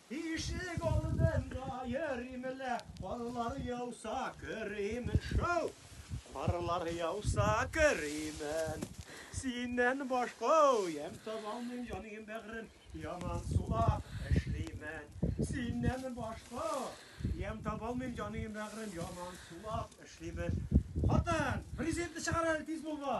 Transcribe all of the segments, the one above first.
Ишек алдында йөримлә, карлар яуса керимен. Шау! Карлар яуса керимен. Синнән башка уям табалмыйм, җаным бәгырем, яман сулап эшлимен. Синнән башка уям табалмыйм, җаным бәгырем, яман сулап эшлимен. Хатын, президентны чыгар әле тиз булма.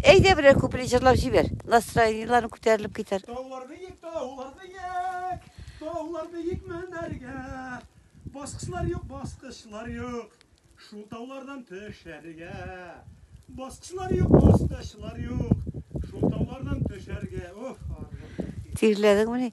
Әйдә берәр куплет җырлап җибәр. Настроениеләрен күтәрелеп китәр. Таулар биек, таулар биек. Таулар биек менәргә. Баскычлар юк, баскычлар юк. Шул таулардан төшәргә. Баскычлар юк, баскычлар юк. Шул таулардан төшәргә. Уф, арлы. Тирләдеңмени?